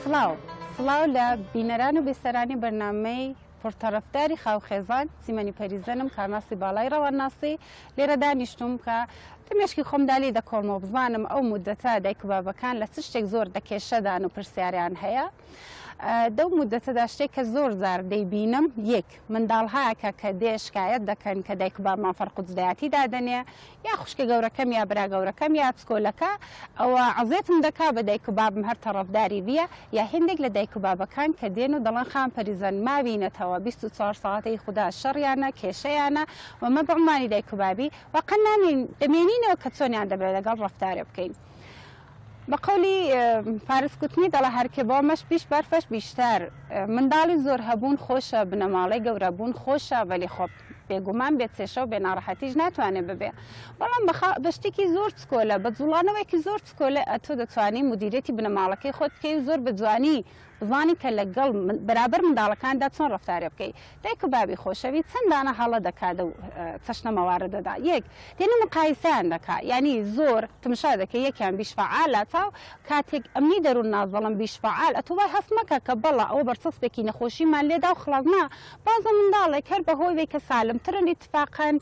سڵاو سڵاو لە بینەران و بیسەرانی بەرنامەی پر تەڕەفداری خاو خێزان سیمەنی پەریزەنم کارناسی باڵای ڕەوانناسی لێرە دانیشتوم کە لە مێشکی خۆمدالی دەکۆڵمەوە بزانم ئەو مدەتە دایک و بابەکان لە چ شتێک زۆر دەکێشەدان و پرسیاریان هەیە دەو مدەتەدا شتێک کە زۆر زار دەیبینم یەک منداڵهایەکە کە دێ شکایەت دەکەن کە دایک بابمان فەرقودزدایەتی دادەنێ یا خوشکە گەورەکەم یا برا گەورەکەم یا پسکۆلەکە ئەوە عەزێتم دەکا بە دایک و بابم هەر تەڕەفداری بیە یا هێندێک لە دایک و بابەکان کە دێن و دەڵێن خان پەریزن ماوینەتەوە بیست و چوار ساعەت ئی خودا شەڕیانە کێشەیانە و مە بە عومانی دایک و بابی واقەن نامێین دەمێنینەوە کە چۆنیان دەبێ لەگەڵ ڕەفتارێ بکەین بە قەولی فارس کوتنی دەڵێ هەر کە بۆ مەش بیش بەرفەش بیشتر منداڵی زۆر هەبوون خۆشە بنەماڵەی گەورە بوون خۆشە بەلی خۆ بێگومان بێ چێشە و بێ ناڕەحەتیش ناتوانێ ببێ بەڵام بەخا بە شتێکی زۆر چکۆلە بە جوڵانەوەیەکی زۆر چکۆلە ئەتۆ دەتوانی مدیریەتی بنەماڵەکەی خۆت بکەی و زۆر بە جوانی زانی کە لە گەڵ بەرابەر منداڵەکاندا چۆن ڕەفتارێ بکەی. دایک و بابی خۆشەویت چەند دانە هەڵە دەکا دەو چەشنە مەواردەدا. یەک، دێنە مقایسەیان دەکا. یانی زۆر تمشا دەکەی یەکیان بیش فەعالە تا کاتێک ئەمنی دەرون ناس دەڵم بیش فەعال ئەتو وای هەست مەکە کە بەڵا ئەوە بەرچەسپێکی نەخۆشیمان لێداو خڵاس نا بازە منداڵێک هەر بە هۆی وەی کە سالم ترن ئیتفاقەن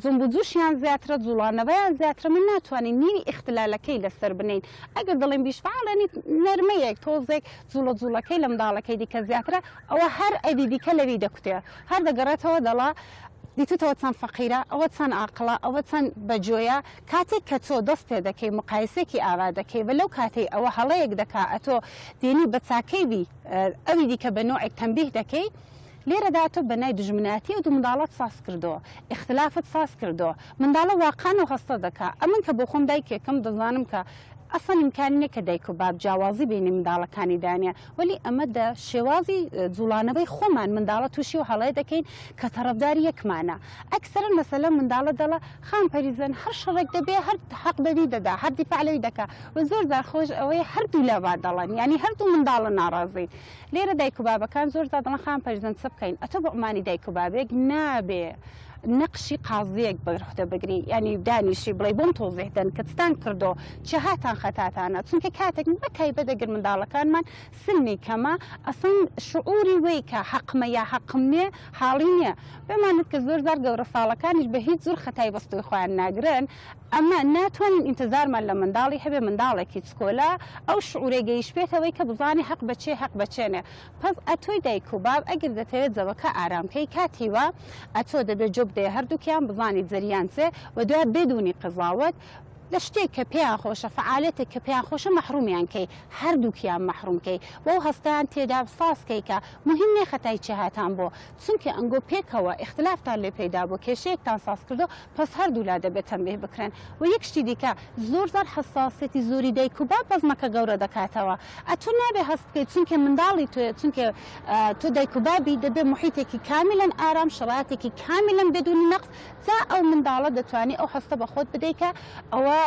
جنب و جوشیان زیاترە جوڵانەوەیان زیاترە من ناتوانین نیوی ئیختلالەکەی لە سەر بنێین ئەگەر دەڵێن بیش فعال یعنی نەرمەیەک تۆزێک جوڵە جوڵەکەی لە منداڵەکەی دیکە زیاترە ئەوە هەر ئەوی دیکە لەوی دەکوتێ هەر دەگەڕێتەوە دەڵا دیتوتەوە چەند فەقیرە ئەوە چەند ئاقلا ئەوە چەند بەجۆیە کاتێک کە تۆ دەست پێ دەکەی مقایسێکی ئاوا دەکەی بە لەو کاتێک ئەوە هەڵەیەک دەکا ئەتۆ دێنی بە چاکەی بی ئەوی دیکە بە نوعێک تەمبیه دەکەی لێرەدا تۆ بەنای دوژمنایەتی ئەو دوو منداڵەت ساز کردووە، ئیختلافت ساز کردووە، منداڵە واقان و هەستە دەکا، ئەمن کە بۆ خۆم دایکێکم دەزانم کە ئەسڵەن ئیمکانی نیە کە دایک و باب جیاوازی بەینی منداڵەکانی دانێ وەلی ئەمە دە شێوازی جوڵانەوەی خۆمان منداڵە توشی ئەو هەڵەیە دەکەین کە تەڕەفداری یەکمانە ئەکسەرەن مەسەلەن منداڵە دەڵە خان پەریزن هەر شەڕێک دەبێ هەر حەق بەوی دەدا هەر دیفاع لەوی دەکا وە زۆر جار خۆش ئەوەی هەردوو لا وا دەڵەن یانی هەردوو منداڵە ناڕازین لێرە دایک و بابەکان زۆر زادڵن خان پەرزەند چ بکەین ئەتۆ بە عمانی دایک و بابێک نابێ نەقشی قازیەک بەرخدە بگری ینی دانیشی بڵێ بۆم تۆزیهدەن کەتتان کردۆ چهاتان خەتاتانە چونکە کاتێک بە تایبە دەگر منداڵەکانمان سلمی کەمە ئەسڵن شعوری وی کە حەقمە یا حەقم نێ حاڵی نییە بمانت کە زۆر زار گەورە ساڵەکانیش بە هیچ زور خەتای بەستوی خۆیان ناگرن ئەمە ناتوانین ئینتزارمان لە منداڵی هەبێ منداڵێکی چکۆلە ئەو شعورەی گەیشبێتەوەی کە بزانێ هەق بە چێ هەق بە چێ نێ پەس ئەتۆی دایک و باب ئەگر دەتەوێ جەوەکە ئارام کەی کاتی وا ئەتۆ دەبێ جۆ بدەیە هەردووکیان بزانیت زریان چێ و دوای بێدونی قەزاوەت لە شتێک کە پێیان خۆشە فەعالێتێک کە پێیان خۆشە مەحرومیان کەی هەردووکیان مەحروم کەی وەو هەستەیان تێدا ساز کەی کە موهیم نێ خەتای چێ هاتان بۆ چونکێ ئەنگۆ پێکەوە ئیختلافتان لێ پەیدا بۆ کێشەیەکتان ساز کردۆ پس هەردوولا دەبێت تەنبیه بکرێن وە یەک شتی دیکە زۆر جار حەساسیەتی زۆری دایک و باب بەزمەکە گەورە دەکاتەوە ئەتو نابێ هەست بکەی چونکێ منداڵی تۆیە چونکێ تۆ دایک و بابی دەبێ محیتێکی کامیلەن ئارام شەرایتێکی کامیلەن بدونی نەقس جا ئەو منداڵە دەتوانی ئەو هەستە بەخۆت بدەی کە ئەوە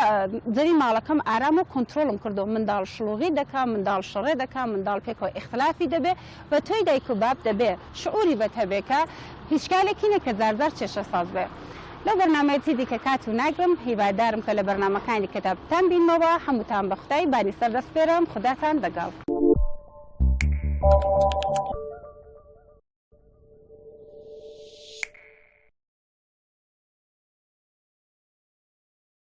زەوی ماڵەکەم ئارامە و کۆنترۆڵم کردوە منداڵ شلوغی دەکا منداڵ شەڕێ دەکا منداڵ پێکەوە ئیختلافی دەبێ بە تۆی دایک و باب دەبێ شعوری بەت هەبێ کە هیچ کارێکی نیە کە زار زار چێشە ساز بێ لەو بەرنامەیە چی دیکە کات و ناگرم هیوادارم کە لە بەرنامەکانی دیکەدا بتان بینمەوە هەمووتان بە خودای بانی سەر دەسپێرم خوداتان دەگەڵ.